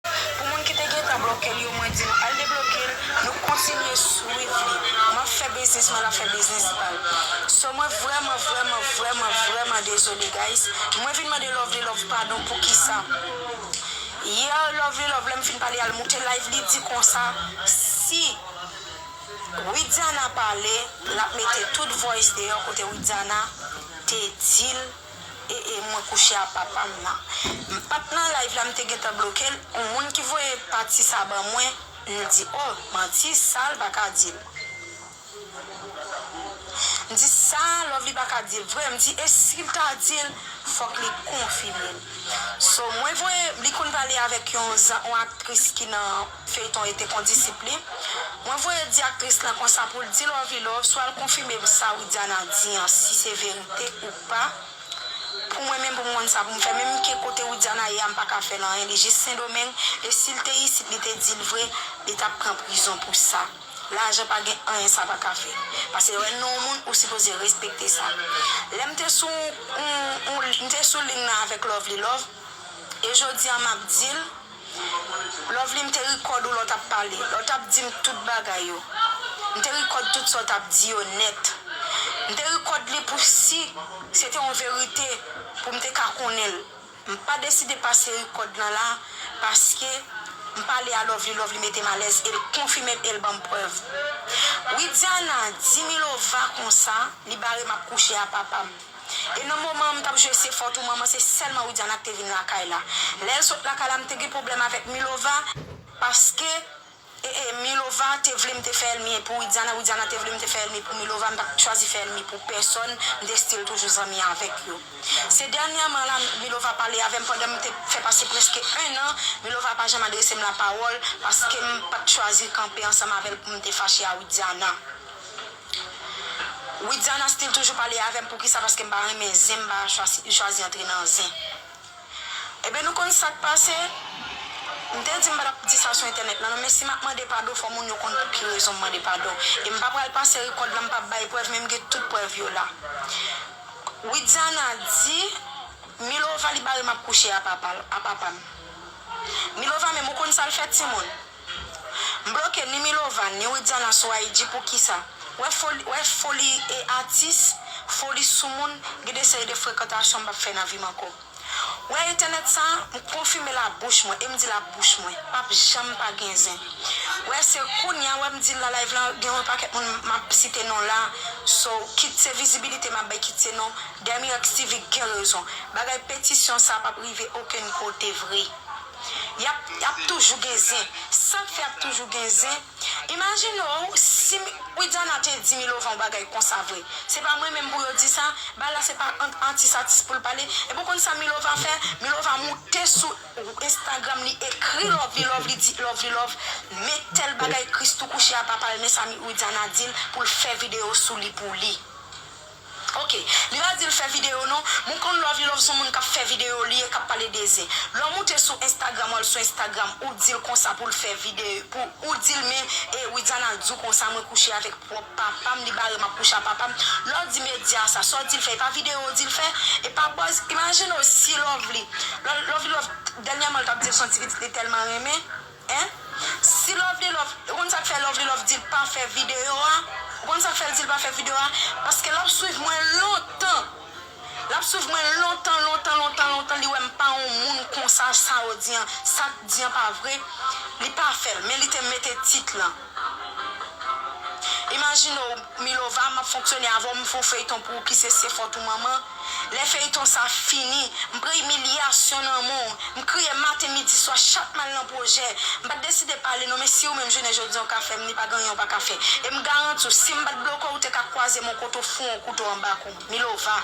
Pou moun ki te gentan blokel yo mwen dil al deblokel nou kontinye swiv li map fè biznis mwen lap fè biznis pal so mwen vrèman vrèman vrèman vrèman dezole guys mwen vin mande lovely love padon poukisa yè lovely love lèm fin pale al moute live li di konsa si widiana pale lap mete tout voice deyò kote widiana te dil E e mwen kouche a papam nan. M pat nan live la m te gentan blokel on moun ki voye pati sa ban mwen m di oh manti sal paka dil m di sa lovely paka dil vre m di e sil ta dil fok li konfimel so mwen voye li konn pale avek yon zan on aktris ki nan Feyton ete kondisip li. Mwen voye di aktris lan konsa poul di Lovy love swa l konfime sa Widiana di an si se verite ou pa pou mwen menm pou m konn sa pou m fè menm ke kote Widiana ye a m paka fè l anyen li jis sendomeng e si l te isit li te di l vre li tap pran prizon pou sa lajan pa gen anyen sa paka fè pase lè nou moun ou sipoze respekte sa lè m te sou m te sou ling nan avèk Lovely love e jodi an map di l. Lovely m te record ou lè w tap pale, lè w tap di m tout bagay yo. M te record tout sa w tap di yo nèt. M te record li pou si se te yon verite pou m te ka konnen l. M pa deside pase record lan la paske m pale a Lovely, Lovely mete m alèz e l konfime m e l ban m prèv. Widiana di Milova konsa li bare m ap kouche a papa m. E nan moman an m t ap jwe se fòt ou manman se sèlman Widiana k te vin lakay la. Lè l sot lakay la m te gen pwoblèm avèk Milova paske e e Milova te vle m te fè èlmi pou Widiana, Widiana te vle m te fè èlmi pou Milova m pa t chwazi fè èlmi pou pèsòn m te still toujou zanmi avèk yo. Se dènyèman la Milova pale avè m pandan m te fè pase prèske 1 an Milova pa janm adrese m lapawòl paske m pa t chwazi kanpe ansanm avè l pou m te fache a Widiana. Widiana still toujou pale avèm poukisa paske m pa renmen zen m pa li chwazi antre nan zen ebyen nou konn sak pase m te di m pa tap di sa sou entènèt la non men si map mande padon fò moun yo konn pou ki rezon m mande padon e m pa pral pase rekòd la m pap bay prèv men m gen tout prèv yo la Widiana di Milova li barem ap kouche a papal a papam Milova menm ou konn sal fè timoun. M bloke ni Milova ni Widiana sou IG poukisa? Wè foli wè foli e atis, foli soumoun, gen de seri de frekantasyon m pap fè nan vi m ankò. Wè entènèt sa, m konfime l a bouch mwen e m di l a bouch mwen, pap janm pa gen zen. Wè se kounya wè m di l nan live lan gen yon pakèt moun map site non la, so kit se vizibilite map bay kit se non, Dèmirèks TV gen rezon. Bagay petisyon sa pap rive okenn kote vre. yap ap toujou gen zen sak fè ap toujou gen zen imajine w si widiana te di milovan yon bagay konsa vre se pa mwen menm pou yo di sa bagay la se pa ant atis atis pou l pale epi w konn sa milova fè milova moute sou instagram li ekri lovely love li di lovely love men tèl bagay christoo kouche a papa l men sa widiana di l pou l fè video sou li pou li. Ok li pa dil fè video non. Mwen konn lovilove son moun kap fè video li ye kap pale de zen lè w moute sou instagram wal sou instagram ou dil konsa poul fè vide pou ou dil men e widiana diw konsa mwen kouche avèk pròp papam li barem ap kouche a papam lè w di media sa sa w dil fè epa video w dil fè epa buzz imajine w si lovely lovilove dènyèman l tap dil son ti pitit li tèlman renmen Hein si lovely love ou konn sak fè lovely love dil pa fè video a ou konn sak fèl dil pa fè video a paske lap swiv mwen lontan lap swiv mwen lontan lontan lontan lontan li wèm pa yon moun konsa sa ou di an sak di an pa vre li pa fèl men li te mete tit lan. Imajine w Milova map fonksyone avèw m fè yon feyton pou ou ki se se fòt ou manman lè feyton sa fini m pran imilyasyon nan men w m kriye maten midi swa chak mal nan pwojè m pat deside pale non men siw menm jounen jodi an w ka fè m ni pa gen anyen w paka fè e m garanti w sim pat bloke w ou te ka kwaze men w kote w fou an kouto anba kou m Milova.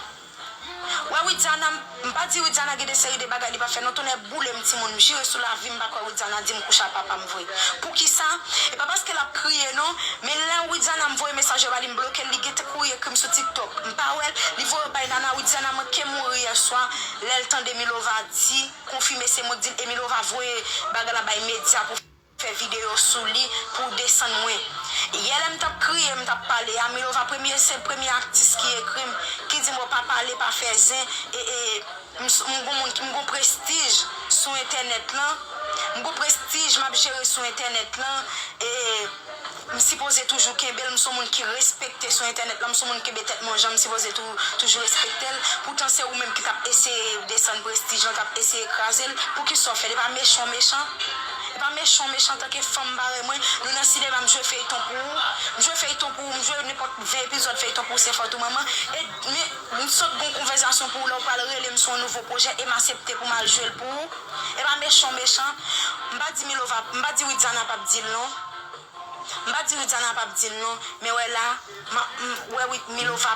Wè widiana m pa di widiana gen de seri de bagay li pa fè non tonnè boulem timoun m jire sou lavim m pa kwè widiana dim kouche a papam vre poukisa e pa paske lap kriye non men lè widiana m voye mesaj yo ba li m blokel li gentn kouri ekrim sou tiktok m pa wèl li voye yo bay nana widiana manke mouri yèswa lèl tande milova di konfime se mwen k dil e milova voye bagay la bay media pou fè video sou li pou w desann mwen yè lè m tap kriye m tap pale a milova premye se premye aktis ki ekri m ki di m o pa pale pa fè zen ee m m gon moun m gon prestij sou entènèt lan m gon prestij map jere sou entènèt lan ee. M sipoze toujou kenbel m son moun ki respekte sou entènèt lan m son moun kenbe tèt mwen janm sipoze tou toujou respektel poutan se ou menm ki tap eseye desann prestij lan tap eseye krazel poukisa w fèl epa mechan w mechan epa mechan w mechan antanke fanm parèy mwen nou nan sinema m jwe feyton pou ou m jwe feyton pou ou m jwe nenpòt 20 epizòd feyton pou ou se fòt ou manman e men m sot gon konvèzasyon pou ou lè w pral rele m sou yon nouvo pwojè e m asepte pou m al jwel pou ou epa mechan w mechan m pa di milova m pa di widiana pap dil non. M pa di Widiana pap dil non men wè la m wè wi Milova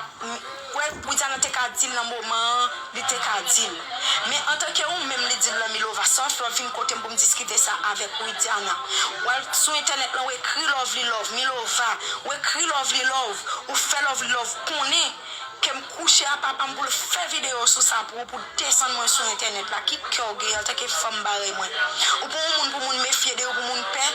wè Widiana te ka dil nan moman an li te ka dil men antanke ou menm li dil lan Milova sa w fè w vin kote m pou m diskite sa avèk w Widiana w al sou entènèt lan w ekri Lovely love Milova w ekri Lovely love ou fè Lovely love konnen Kem kouche a papam poul fè video sou sa pou ou pou desann mwen sou entènèt la ki kè ou gen antanke fanm parèy mwen ou pran yon moun pou moun mefye de yo pou moun pè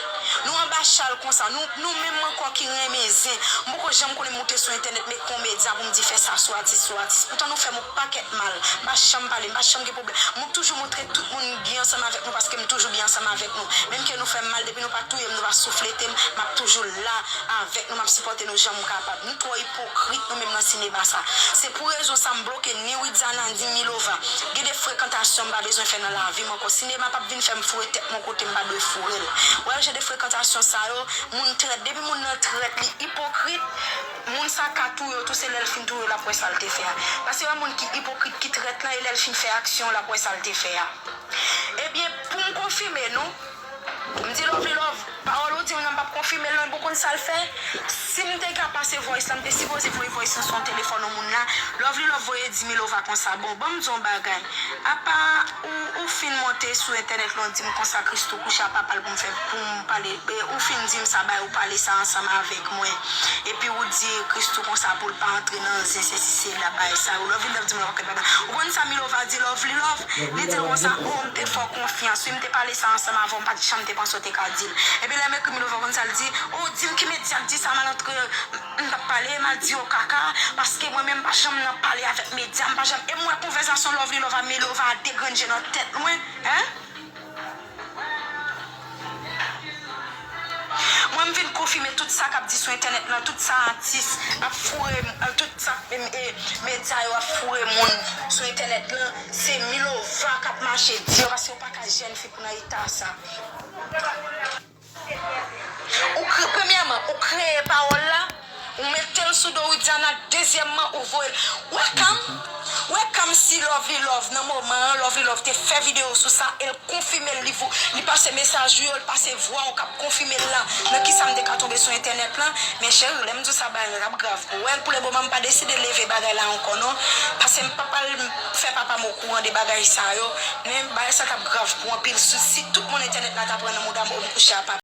nou anba chal konsa nou nou menm ankò ki renmen zen m poko janm konnen moute sou entènèt met konmedyan pou m di fè sa sou atis sou atis poutan nou fèm yon pakèt mal m pa janm pale m pa janm gen pwoblèm mwen k toujou montre tout moun m byen ansanm avèk nou paske m toujou byen ansanm avèk nou menm ke nou fèm mal depi nou pa touyem nou pa soufletem map toujou la avèk nou map sipòte nou janm kapab nou twò Ipokrit nou menm nan sinema sa. Se pou rezon sa m bloke ni Widiana ni Milova. Gen de frekantasyon m pa bezwen fè nan lavi m ankò. Sinema pap vin fè m foure tèt m yon kote m pa dwe foure l. Wè jan de frekantasyon sa yo, moun trèt. Depi moun nan trèt li ipokrit, moun sa ka touye w tou se lè l fin touye w l ap wè sa l te fè a. Pase wè moun ki ipokrit, ki trèt lan e lè l fin fè aksyon l ap wè sa l te fè a. Ebyen pou m konfime nou, M di lovely love pawòl ou dim nan m pap konfimel non ebon konn sal fè sim te ka pase voice la m te sipoze voye voice lan son telefòn yon moun la lovely love voye dimilova konsa bon banm diw yon bagay apa ou ou fin monte sou entènèt lan ou dim konsa christoo kouche a papal poum fè poum pale ou fin dim sa bay ou pale sa ansanm avèk mwen epi ou di christoo konsa poul pa antre nan zen sesi sela bay sa ou lovely love dimilova pap fè papa ou konn sa milova di lovely love li dil konsa oh m te fè w konfyans wi. Te pale sa ansanm avè w m pat janm te panse w te ka di l. Epi lè m ekri Milova konn sa l di, oh di m ki medya k di sa mal antre m tap pale mal di yo kaka paske mwen menm m pa janm nan pale avèk medya m pa janm e m wè konvèzasyon Lovely Lova Milova a degrenje nan tèt mwen hein. Mwen m vin konfime tout sa kap di sou entènèt lan tout sa atis ap foure tout sa medya yo ap foure moun sou entènèt lan se milova kap mache di yo paske yo paka jèn fi pou nan eta sa ou premyèman ou kreye pawòl la. Ou metel sou do widiana dezyèmman ou voyel wè cam wè cam si lovely love nan moman an lovely love te fè video sou sa el konfimel li vo li pase mesaj ou yo li pase vwaw kap konfimel la nan kisam te ka tonbe sou entènèt lan men cheri lèm diw sa bagay lan tap grav pou wèl pou le moman mpa deside leve bagay la ankò non pasem pap al fè papam okouran de bagay sa yo men bagay sa tap grav pou anpil si tout moun entènèt la ta pran nan moudam oh mkouche a papa.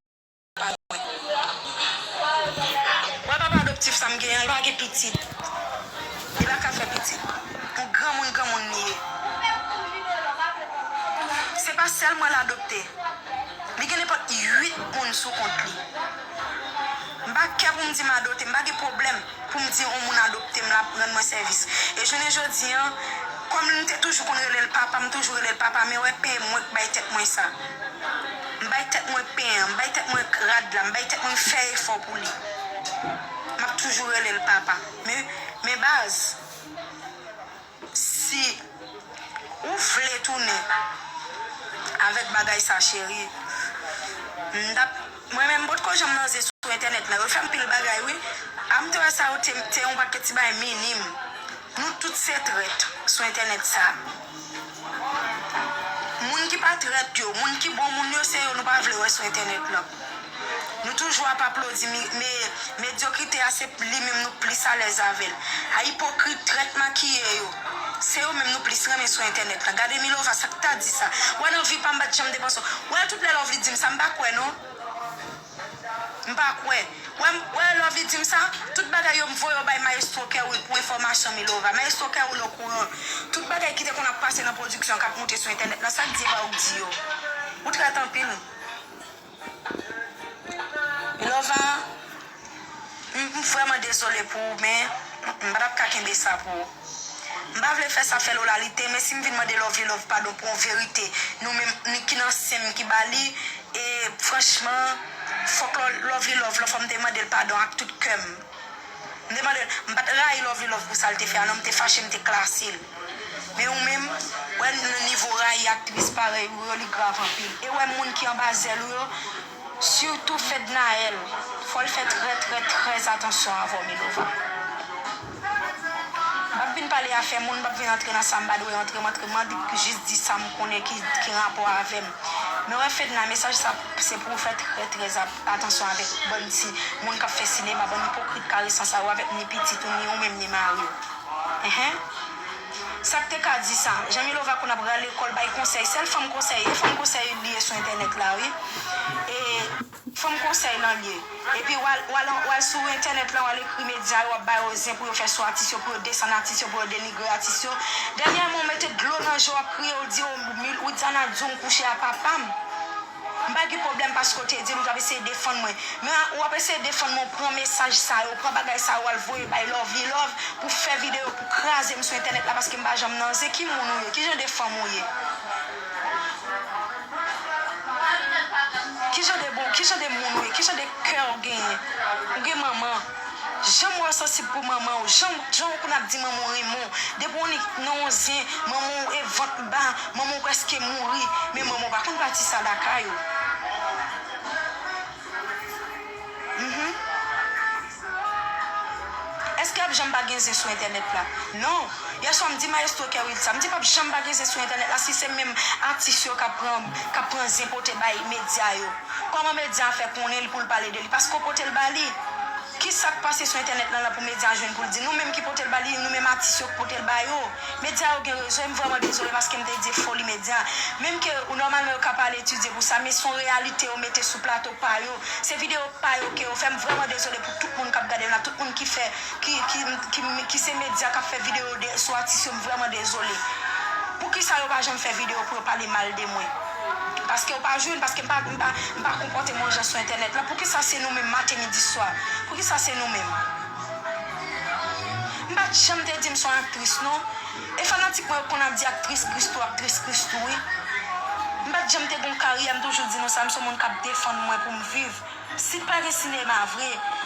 Wè papa adoptif sa m gen an li pa gen pitit li pa ka fè pitit pou granmoun granmoun li ye se pa sèl mwen l adopte li gen nenpòt 8 moun sou kont li m pa kè pou m di m adote m pa gen pwoblèm pou m di on moun adopte m l ap rann mwen sèvis e jounen jodi an kòm m te toujou konn rele l papa m toujou rele l papa men wè peye mwen k bay tèt mwen sa. M bay tèt mwen pen an, m bay tèt mwen rad la, m bay tèt mwen m fè efò pou li. M ap toujou rele l papa. Men, men baz, si ou vle tounen avèk bagay sa cheri, m t ap, mwen menm m pot ko janm nan zen sou entènèt nan, yo fè anpil bagay wi. A m te wè sa yo te, te yon pakè ti bagay minim. Nou tout se trèt sou entènèt sa. Moun ki pa trèt yo, moun ki bon moun yo se yo nou pa vle wè sou entènèt lan. Nou toujou ap aplodi me medyokrite a se li menm nou plis alèz avè l. A ipokrit, trèt makiye yo, se yo menm nou plis renmen sou entènèt lan. Gade Milova sa k ta di sa. Wè nan vi pa m m pa t janm depanse w. Wè l tout lè love li di m sa m pa kwè non. M pa kwè. Wè m wè Lovy dim sa? Tout bagay yo m voye yo bay Maestro Kerwill pou enfòmasyon Milova. Maestro Kerwill okouran. Tout bagay ki te konn ap pase nan pwodiksyon an k ap moute sou entènèt lan sak di epa ou k di yo. Ou trèt anpil. Milova m vrèman dezole pou ou men m pa t ap ka kenbe sa pou ou. M pa vle fè sa fè Lola li te men si m vin mande Lovelove padon pou yon verite nou menm ni ki nan sen m ki ba li e franchman fòk Lovelove lan fò m te mande l padon ak tout kè m m te mande l m pa t rayi Lovelove pou sa l te fè a non m te fache m te klase l men ou menm wè nivo rayi aktris parèy ou yo li grav anpil e wè moun ki anba zèl ou yo Surtout Fednaelle fòl fè trè trè trè atansyon avèw Milova Pap vin pale afè moun pap vin antre nan sam pa dwe antre m antre man li jis di sam konnen ki gen rapò avèm men wè Fedna mesaj sa se pouw fè trè trè atansyon avèk bann ti moun kap fè sinema bann ipokrit karesan sa yo avèk ni pitit ou ni ou menm ni mariw enhen. Sak te ka di sa. Jan Milova konn ap rale kòl bay konsèy sèl fanm konsèy e fanm konsèy li ye sou entènèt la wi e fanm konsèy lan li ye epi wal wal wal sou entènèt lan wal ekri medya yo wap ba yo zen pou yo fè sou atis yo pou yo desann atis yo pou yo denigre atis yo dènyèman ou mete dlo nan je w wap kriye ou di o Widiana diw m kouche a papam. M pa gen pwoblèm paske w te di m ou t ap eseye defann mwen. Men ou ap eseye defann mwen ou pran mesaj sa yo, ou pran bagay sa yo al voye bay Lovlilove pou w fè videyo pou w kraze m sou entènèt la paske m pa janm nan zen. Ki moun ou ye? Ki jan de fanm ou ye? Ki jan de moun ou ye? Ki jan de kè ou genyen? Ou gen manman? Janm wèw sansib pou manmanw janm janw konn ap di manmanw renmen w depi w nik nan yon zen manmanw e vant l ba manmanw preske mouri men manmanw pa konn pati sa lakay ou humm eske ap janm pa gen zen sou entènèt la non yèswa m di maestro kerwill sa m di pap janm pa gen zen sou entènèt la si se menm atis yo kap pran kap pran zen pote bay medya yo. Koman medya fè konnen li poul pale de li paske ou potel ba li kisak pase sou entènèt lan lan pou medya jwenn poul di nou menm ki potel ba li nou menm atis yo ki potel ba yo medya yo gen rezon em vrèman dezole paskem te di foli medya menm ke ou nòmalman yo ka pa al etidye pou sa men son reyalite yo mete sou plato pa yo se video pa yo ke yo fè em vrèman dezole pou tout moun kap gadem la tout moun ki fè ki ki se medya kap fè video de sou atis yo em vrèman dezole poukisa yo pa janm fè video pou yo pale mal de mwen. Paskew pa jwenn, paskem pa m pa konpòte m yon jan sou entènèt lan, poukisa se nou menm maten midi swa, poukisa se nou menm. M pat janm te dim son aktris non, e fanatik mwen yo konn ap di aktris Christoo aktris Christoo wi. M pat janm te gon karyè m toujou di nou sa m son moun kap defann mwen poum viv, si t pa gen sinema vre.